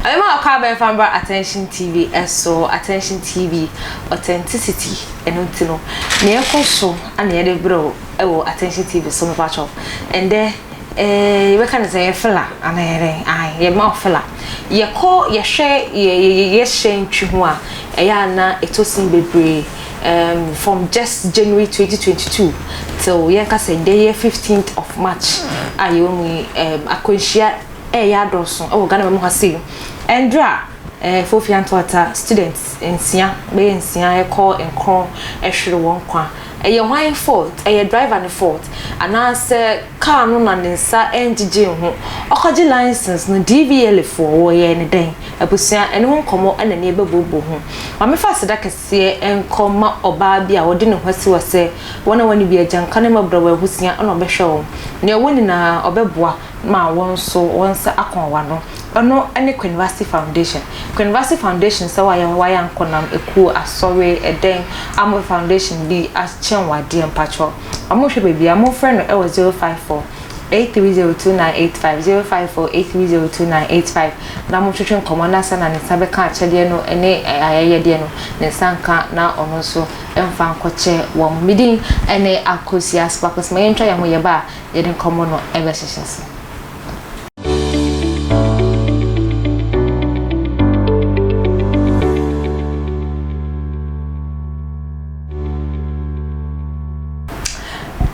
Ɛma ɔkɔ abɛn fa mbra Attention TV so Attention TV authenticity ɛno nti no nea ɛkɔ so na yɛde brɛ wo wɔ Attention TV so mepa kyɛw ɛndɛ Eeh yɛbɛka no sɛ yɛ fela anaa yɛ dɛn ae yɛ ma wo fela yɛkɔ yɛhwɛ yɛ yɛ hyɛn twi ho a ɛyɛ a na ɛtɔ sin bebree ehm from just January twenty twenty two till yɛnka sɛ nnɛ yɛ fifteenth of March a yɛwɔ mu yi ehm akwanhyia ɛɛyɛ adɔɔso wɔ Ghana man mu ha sei ɛndra. Fofia Ntoata students nsia bɛyɛ nsia kɔ nkron hwere wɔn nkwa. Ɛyɛ hwan fault? Ɛyɛ driver no fault. Anaasɛ car no na ne nsa ngyegyee ho. Ɔkɔgye license no DVLA foɔ wɔyɛɛ no dɛn? Abusua ɛno ho nkɔmɔ na nie bɛbooboo ho. Ma me fa aseda kɛseɛ nkɔ ma ɔbaa bi a ɔde ne ho asi hɔ sɛ wɔn a wɔne bi agyanka ne mmɔbrɔwa ahusia na ɔbɛhwɛ wɔn. Nea ɔwɔ nyinaa ɔbɛboa ma wo nso wo nsa akɔn w'ano. Ɛno ne Kwenvasi Foundation. Kwenvasi Foundation sɛ wayɛ hɔ wayɛ ankonam ekuo asɔre ɛdɛn a mo foundation bi akyɛn wo adeɛ mpakyɛw ɔmo hwɛ baabi a mo frɛ no ɛwɔ zero five four eight three zero two nine eight five zero five four eight three zero two nine eight five na mo twetwe nkɔmɔ na sɛ na ne nsa bɛka akyɛdeɛ no ɛne ayɛyɛdeɛ no ne nsa nka na ɔno nso ɛnfa nkɔkyɛ wɔn mo din ɛne Akosua Sparkles ma yɛntwa yɛn ho yɛba a. yɛde nkɔmmɔ no bɛhyehyɛ ase.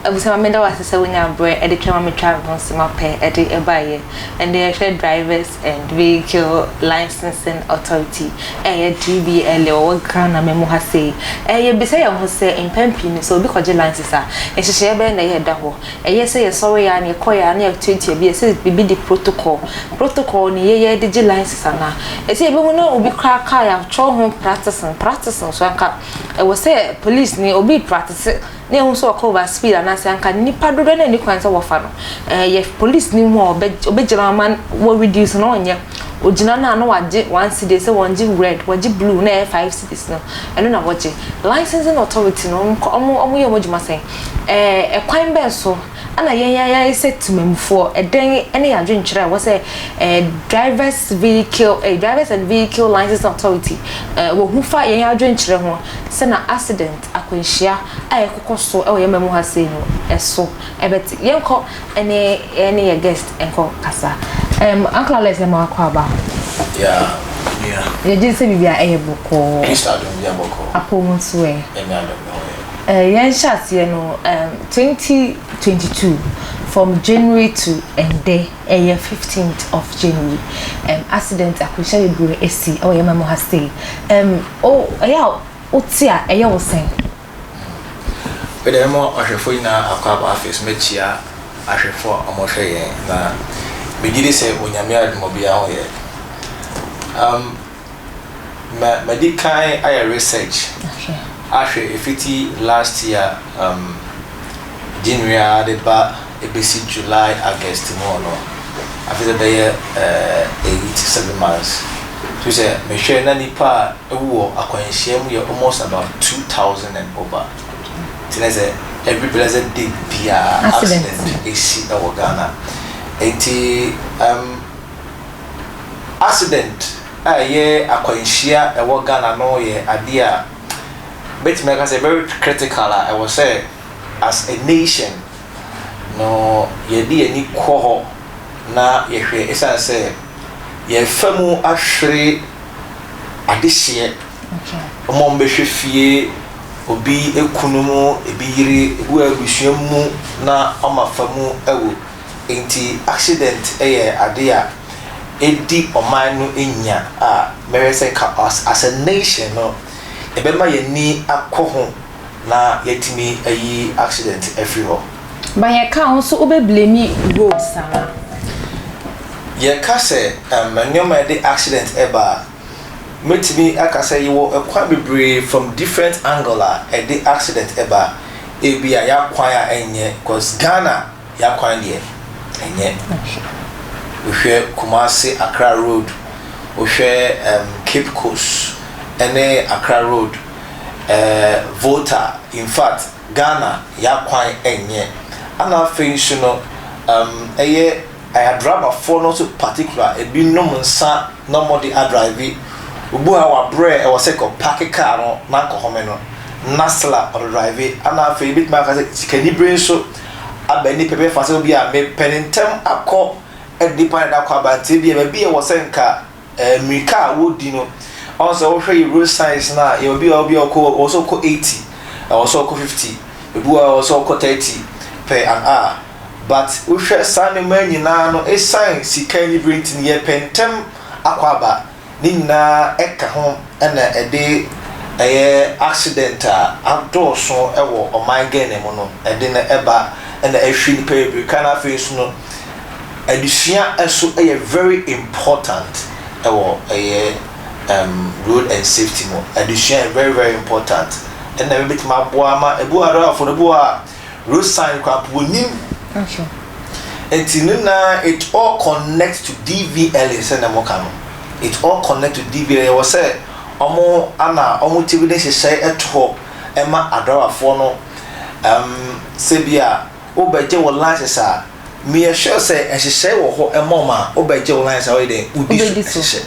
Abusua, meda wo ase sɛ wonyaa berɛ de twam a metwaa me ho se mapɛ de baeɛ. Ɛnde yɛhwɛ drivers. and Vehicle Licensing Authority, ɛyɛ DVLA, ɔwɔ Ghana man mu ha sei. Ɛɛ yɛbisa yɛn ho sɛ, mpɛn pii no sɛ obi kɔgye license a, nhyehyɛeɛ bɛn na ɛyɛ a ɛda hɔ? Ɛyɛ sɛ yɛsɔreeɛ ara na yɛkɔeɛ ara na yɛatuatua bi, ɛsɛ biribi de protocol, protocol no yɛ yɛde gye license anaa? Ɛsɛ yɛbɛhu na obi koraa car yɛatwerɛ ho practicing, practicing nso anka ɛwɔ sɛ polisini obi repractice, na yɛahu sɛ ɔkɔ over speed anaasɛ anka nnipa dodoɔ no ani kwan sɛ wɔfa no ɛyɛ police no mu a ɔbɛgyina ama wɔ reduce na ɔnyɛ ogyina no a na wagye one city sɛ wɔn gye red wɔgye blue na ɛyɛ five cities no ɛno na wɔgye licensing authority no ɔmo ɔmo yɛ ɔmo adwuma sɛn ɛɛ ɛkwan bɛn so ɛna yɛn yɛn ayɛ sɛ temamufoɔ ɛdɛn ɛne yɛ adwenkyerɛ ɛwɔ sɛ ɛɛ drivers vehicle ɛɛ drivers and vehicle licensing authority ɛɛ wɔhu fa yɛn adwenkyerɛ ho sɛ na accident. akwanhyia a ɛkokɔ so wɔ yɛn mma mu ha sei no so bɛte. Yɛnkɔ ne yɛne yɛ guest nkɔ kasa. Um, Uncle Alex na mawakɔ aba. Yeah, yeah. Yɛgye sɛ biribi a ɛyɛ bɔkɔɔ. Kristo adom bi abɔkɔɔ. Apɔ mu nso ɛ. Ɛnyɛ adom na ɔyɛ. Eh, yɛn hyɛ aseɛ no um, 2022 from January to ɛndɛ ɛyɛ 15th of January. Um, accident akwanhyia bebree esi ɛwɔ yɛn mma mu ha sei. Um, oh, ɛyɛ a wote a, ɛyɛ wo sɛn? Wei deɛ mema ɔhwɛfoɔ nyinaa akwaaba afei mɛkyia ahwɛfoɔ a wɔhwɛ yɛn na megye di sɛ Onyame adom obiara ho yɛ um ma madi kan ayɛ research ahwɛ ɛfiti last year um. January a ade ba ebesi July August mu hɔ no afei dɛ bɛyɛ eight seven months so sɛ mehwɛ na nipa a ewu wɔ akwanhyia mu yɛ almost about two thousand and over ntsi na sɛ every blessed day biara accident esi wɔ Ghana ntsi um accident a ɛyɛ akwanhyia ɛwɔ Ghana no yɛ ade a mɛtumi aka sɛ very critical a ɛwɔ sɛ As a nation no yɛde yɛn ani kɔ hɔ na yɛhwɛ esiane sɛ yɛrefa mu ahwere adehyeɛ wɔn a wɔbɛhwɛ fie obi kunu mu ebi yere ebi wɔ abusua mu na wɔn afa mu awu nti accident yɛ ade a ɛdi ɔman no nya a mɛhwɛ sɛ as a nation no yɛbɛma yɛn ani akɔ ho. na yɛatumi ayi accident afiri hɔ. But yɛ ka wo nso wo bɛ blame roads anaa? Yɛ ka sɛ um nneɛma a ɛde accident ba a, mɛtumi aka sɛ yɛwɔ kwan bebree from different angle a ɛde accident ba, ebi a y'akwan a ɛnyɛ cause Ghana y'akwan deɛ ɛnyɛ. Wo hwɛ Kumasi Accra road, wo hwɛ um Cape Coast ɛne Accra road. eh Volta infact Ghana ya kwan ɛnyɛ ɛna afei nso no um ɛyɛ aya driver foɔ no nso particular ebi nom nsa na ɔmɔ de adrive obu ha wa brɛ ɛwɔ sɛ kɔ parke car no na nkɔ home no na sla ɔdɔ drive ɛna afei ebi tumi aka sɛ sikani bere nso aba ɛni pɛ bɛ fa sɛ obi a me pɛ ne ntɛm akɔ ɛde pa ne da kɔ aba nti ebi ɛbɛ bi ɛwɔ sɛ nka eh, mmirika a wodi no ɔn sɛ wohwɛ yɛ road signs no a yɛwɔ bi a obi a ɔkɔ wɔ sɛ ɔkɔ 80 ɛwɔ sɛ ɔkɔ 50 ebi wɔ ɛwɔ sɛ ɔkɔ 30 per an hour but wohwɛ saa nneɛma nyinaa no esan sika ni bere nti no yɛpɛ ntɛm akɔ aba ne nyinaa ɛka ho ɛna ɛde ɛyɛ accident a adɔɔso ɛwɔ ɔman Ghana mu no ɛde no ɛba ɛna ɛhwe nipa bebree ka na afei nso no Adesua nso yɛ very important wɔ ɛyɛ ɛɛm road and safety mu. Adesua yɛ very very important. Ɛna ɛbɛ bɛtumi aboa ama ebi wɔ adɔrɔ afɔ no ebi wɔ a road sign kura po nim. Ɛnso. Ɛti ne na it all connect to DVL sɛ na mo ka no. It all connect to DVL yɛ wɔ sɛ ɔmo ana ɔmo ti bi ne hyehyɛ ɛto hɔ ɛma adɔrɔ afɔ no ɛɛm sɛ bi a. Wobɛgye wo license a, meyɛ sure sɛ nhyehyɛe wɔ hɔ ma wɔn a wobɛgye wo license a wɔyɛ dɛn? Wodi so hyehyɛ.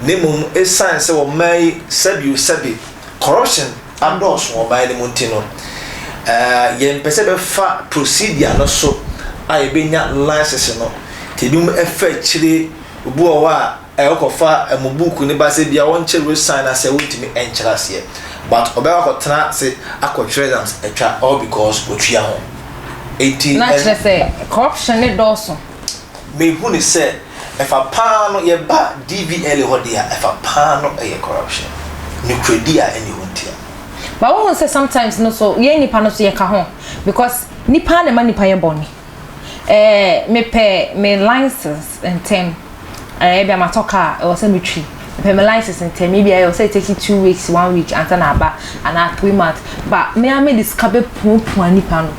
Na mmom esiane sɛ ɔman yi sɛbiosɛbi, corruption adɔɔso wɔ ɔman no mu nti no, yɛmpɛ sɛ yɛbɛfa procedure no so a yɛbɛnya license no. Nti ebinom fa akyire, obi wɔ hɔ a, Ɛ wokɔ fa ɛ mo buuku no ba sɛ bia wɔnkye resan na sɛ wontumi ɛnkyerɛ aseɛ but ɔbɛ kɔ akɔ tena ase akɔ twerɛ exams atwa all because otua ho nti Na ɛ. kyerɛ sɛ corruption no dɔɔso. Me hu no sɛ ɛfa paa no yɛ ba DVLA hɔ deɛ a ɛfa paa no ɛyɛ corruption nokorɛdi a ɛnni hɔ nti a. But wo hu sɛ sometimes no so yɛn nipa no so yɛ ka ho because nipa na ɛma nipa yɛ bɔne. Ɛɛ mepɛ me license ntɛm. Ɛɛ ebia matɔ kaa a, ɛwɔ sɛ metwi. Mepɛ me license ntɛm. Ebia ɛwɔ sɛ ɛtake two weeks, one week ansa na aba anaa three months. Ba me ara mede sika bɛpuapua nnipa no.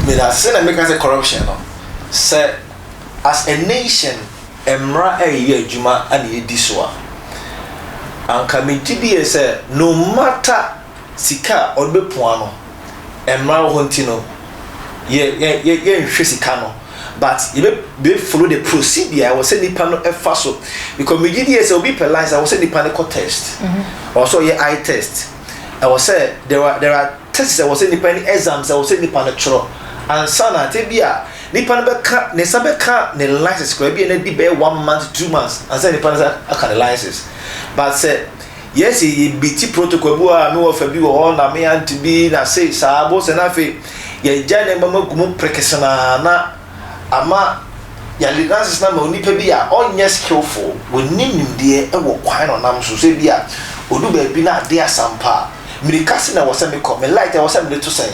Meda ase na meka sɛ corruption no, sɛ as a nation mmara a ɛyɛ adwuma na yɛdi so a, anka megye die sɛ no matter. Sika a ɔde bɛpua no, mmara wɔ hɔ nti no, yɛ yɛ yɛ yɛnhwɛ sika no, but yɛbɛ bɛ follow the procedure a ɛwɔ sɛ nipa no ɛfa so, because me gye die sɛ obi pɛ license ɛwɔ sɛ nipa no kɔ test, ɛwɔ sɛ ɔyɛ eye test, ɛwɔ sɛ there are there are tests ɛwɔ sɛ nipa ɛne exams ɛwɔ sɛ nipa no twerɛ ansa na tɛ bi a nipa no bɛka ne nsa bɛka ne license koraa ebi a na adi bɛyɛ one month two months ansa na nipa no nsa aka ne license, but sɛ. Yɛse yɛbiti protocol bi wɔ hɔ a, me wɔfa bi wɔ hɔ na me aunty bi na se saa bo sɛ na afei yɛagya nneɛma mu agu mu prekesenaa na ama yɛade nonsense no ama onipa bi a ɔnyɛ skillful, wɔnni nimdeɛ wɔ kwan na ɔnam so, sɛ ebi a ɔdu baabi na ade asa mpo a, mmirika sɛn na ɛwɔ sɛ mekɔ, me light ɛwɔ sɛ mede to sɛn?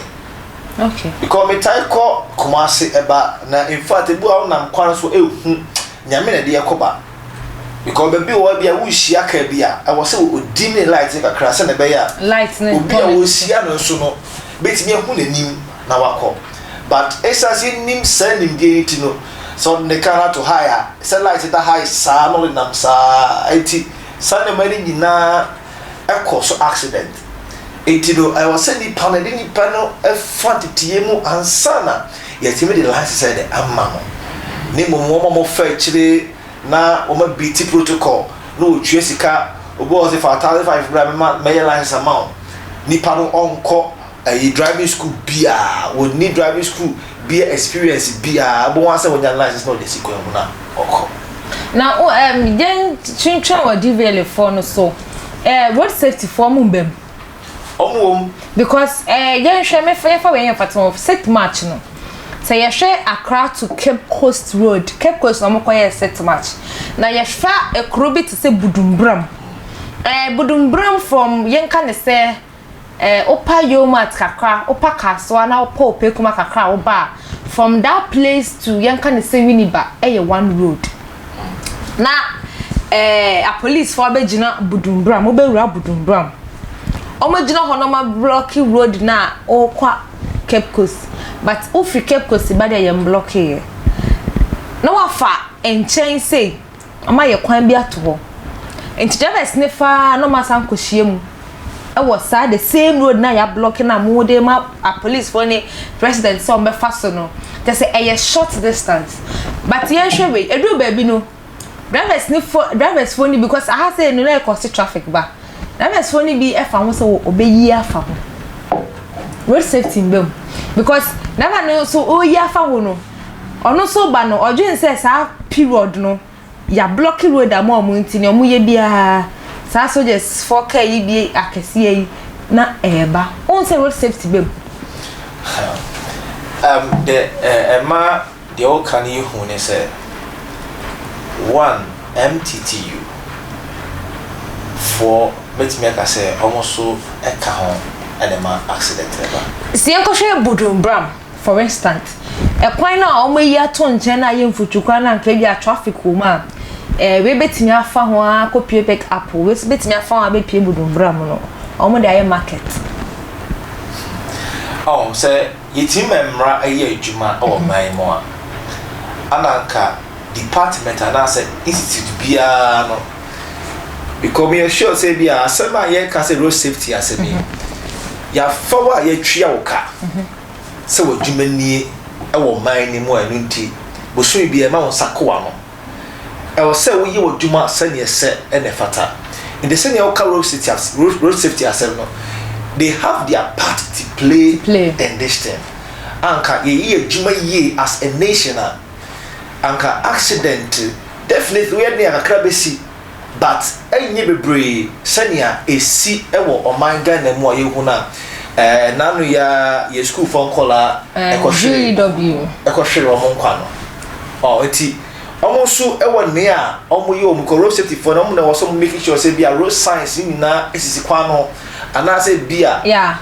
Okay. Because metae kɔ Kumasi ɛba na in fact ebi wɔ hɔ a wonam kwan so ɛhu Nyame na ɛde yɛ kɔba. Because baabi wɔ hɔ bi a worehyia kaa bi a, ɛwɔ sɛ ɔdim ne light no kakra sɛdeɛ ɛbɛyɛ a obi a ɔrehyia no nso no bɛtumi ahu n'anim na wakɔ. But ɛsiane sɛ yɛnnim saa nimdeɛ yi nti no, sɛ ɔde ne kaa no ato high a, sɛ light da high saa na ɔde nam saa nti, saa nneɛma no nyinaa. kɔ so accident nti no ɛwɔ sɛ nipa no yɛde nipa no fa nteteyɛ mu ansa na yɛtumi de license sɛ de ama no ne mmom wɔn a wɔfa akyire na wɔn abiti protocol na wɔtua sika obi wɔ sɛ fa thousand five bra mɛma mɛyɛ license ama wo nipa no ɔnkɔ ɛyi driving school biaa wɔnni driving school bia experience biaa ɛbɔ wɔn sɛ wɔnya license na wɔde si kwan mu na ɔkɔ. na um, yɛn twentwɛn wɔ dvla foɔ no so uh, road safety foɔ mu mbam ɔmo wɔ mu because uh, yɛnhwɛ mefa yɛfa wei yɛn fata wɔ set match no sɛ yɛhwɛ Accra to Cape Coast road Cape Coast na ɔmo kɔ yɛ set match na yɛfa ekuro bi te sɛ Budumbram ɛɛ eh, Budumbram from yɛnka ne sɛ eh, wopa Yomat kakra, wopa Kasoa na wopa Opekuma kakra a woba a, from that place to yɛnka ne sɛ Winneba ɛyɛ one road. Na eh, apolicefoɔ abɛgyina Budumburam, wobɛwura Budumburam. Wɔagyina hɔ na wɔablɔke road no a wokɔ Cape Coast, but wofiri Cape Coast ba deɛ yɛmblɔkeeɛ. Na wafa nkyɛn sei. Ɔma ayɛ kwan bi ato hɔ nti drivers no fa ara na ɔmo asan akɔ hyia mu ɛwɔ saa the same road na ya blɔk na ɔmo de ma apolicefoɔ ne president sɛ ɔmo bɛ fa so no kyɛ sɛ ɛyɛ short distance but yɛn hwɛ wei ɛduru baabi no drivers no fo drivers foɔ no bi kɔs aha sɛ ɛnu na ɛkɔ se traffic ba drivers foɔ no bi ɛfa ho sɛ wɔ ɔbɛ yi afa ho road safety mbɛ mu because driver no nso ɔyi afa ho no. Ɔno nso ba no ɔdwen sɛ saa period no yɛablɔke road ama ɔmo nti nea ɔmo yɛ biaa saa soldiers foɔ car yi bi akɛseɛ yi na ɛɛba. Wohu sɛ road safety bɛ mu. Ɛm dɛ ɛma deɛ woka no yɛ hu ne sɛ one MTTU foɔ mɛtumi aka sɛ ɔmo nso ɛka ho ɛna ɛma accident no ba. Sɛ yɛnkɔhwɛ Bodwin Bram. For instance, ɛkwan no a wɔayi ato nkyɛn no a ɛyɛ mfutukwan no a anka ebi a traffic wɔ mu a, eh, wei betumi afa ho ara akɔpue pick up, wei nso betumi afa ho abɛpue Budumbura mu no, wɔde ayɛ market. Ɔho, sɛ yɛtumi ma mmara yɛ adwuma wɔ mhm. man mu a, ana anka department anaasɛ institute biara no Because me yɛ sure sɛ bi a asɛm a yɛka sɛ road safety asɛm yi yɛafa wo a yɛatwia wo ka sɛ w'adwuma nie wɔ man no mu a ɛno nti bosome bi ɛma wo nsa kowa no ɛwɔ sɛ woyɛ w'adwuma sɛdeɛ sɛ ɛna ɛfata nti sɛdeɛ woka road safety asɛm road safety asɛm no they have their part to play, to play. in this thing anka yɛyi adwuma yie as a nation a anka accident Definitely woyɛ den a kakra bɛsi but ɛnyɛ bebree sɛnea ɛsi wɔ ɔman Ghana mu a yɛhu no a ɛɛ naano yi ara yɛn sukuufoɔ nkɔlaa ɛkɔhwere ɛkɔhwere wɔn nkwa no ɔɔ nti wɔn nso wɔ nea wɔn yɛ wɔn kɔ road safety foɔ no wɔn na ɛwɔ sɛ wɔn making sure sɛ bi a road signs ne nyinaa sisi kwan no ho anaasɛ bi a. Yeah.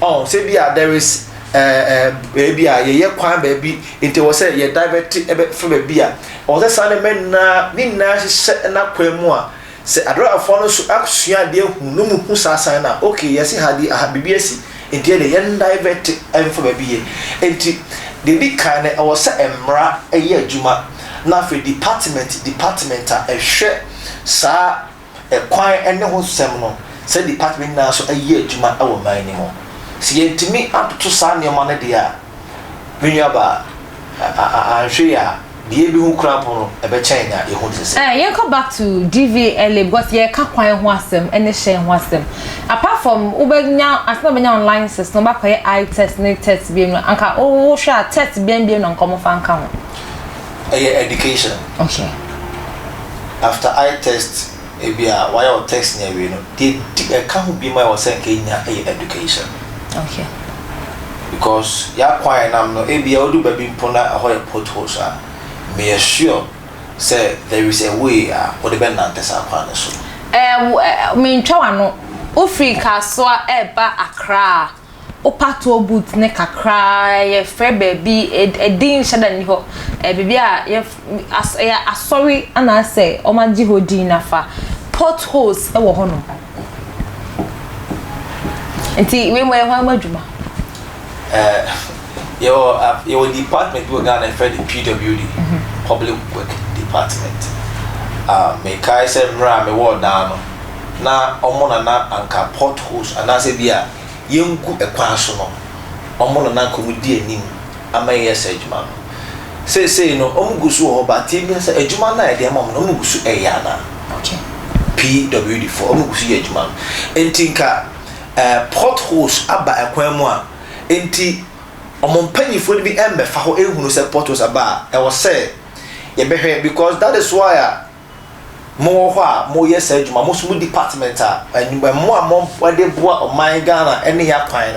Oh sɛ bi a there is eh, eh, baabi a yɛyɛ kwan baabi nti wɔ sɛ yɛ divert ɛbɛfa baabi a ɔwɔ sɛ saa nneɛma nyinaa ne nyinaa hyehyɛ ɛna kwan mu a sɛ adɔrafoɔ no nso asua adeɛ ahu no mu hu saa san no a ok yɛsi ha deɛ aha biribi asi nti ɛdeɛ yɛn divert ɛmfa baabi yɛ nti deɛ di kan no ɛwɔ sɛ mmara ɛyɛ adwuma na afei department department a ɛhwɛ saa kwan ne ho nsɛm no saa department nyinaa so yɛ adwuma wɔ man no mu. Sɛ yɛantumi antoto saa nneɛma no deɛ a, me nuabaa, anhwɛ yie a, deɛ yɛbɛhu koraa mpo no, ɛbɛkyɛn nea yɛhu no sese. Eh, yɛnkɔ back to DVLA because yɛreka kwan ho asɛm ne hyɛn ho asɛm. Apart from wobɛnya afei na wobɛnya wo license na wobɛakɔyɛ eye test ne test biam no, anka wohwɛ a test bɛn biam na anka wɔmfa nka ho? ɛyɛ education okay after eye test ebi a wayɛ wɔ test ni awie no deɛ di ɛka ho bi ma ɛwɔ sɛ nka nya ɛyɛ education okay because yɛakwan a ɛnam no ebi a odu baabi mpo na ɛhɔ yɛ potholes a meyɛ sure sɛ there is a way a wɔde bɛ nante saa kwan no so ɛɛ mentwa wano wofiri kasoa ɛɛba akra wo patoɔ boot no kakra ara yɛ frɛ baabi ɛdin nhyɛ da nni hɔ ɛyɛ biribi a yɛ as ɛyɛ asɔre anaasɛ wɔn agye hɔ din na fa pot holes wɔ hɔ nom nti wei mo yɛ hɔ ama adwuma. ɛɛ eh, yɛwɔ yɛwɔ department bi wɔ Ghana yɛfrɛ no PWD mhm. public work department. Uh, mekae sɛ mmerɛ a mewɔ daa no na ɔmo na na anka port holes anaasɛ bi a yɛngu ɛkwan so no ɔmo na na anka ɔmo di anim ama yɛyɛ saa adwuma no. Seesei no ɔmo gu so wɔ hɔ but yɛbisa sɛ adwuma no a yɛde ama ɔmo no ɔmo gu so ɛyɛ anaa? PWD foɔ ɔmo gu so yɛ adwuma no nti nka ɛɛ port holes aba ɛkwan mu a nti ɔmo mpaninfoɔ no bi ɛmmɛfa hɔ ɛnhunu sɛ port holes aba a ɛwɔ sɛ yɛbɛhwɛ because that is why a mowɔ hɔ a moyɛ saa adwuma, mo nso mo department a mmoa a mode boa ɔman Ghana ne yɛ akwan no.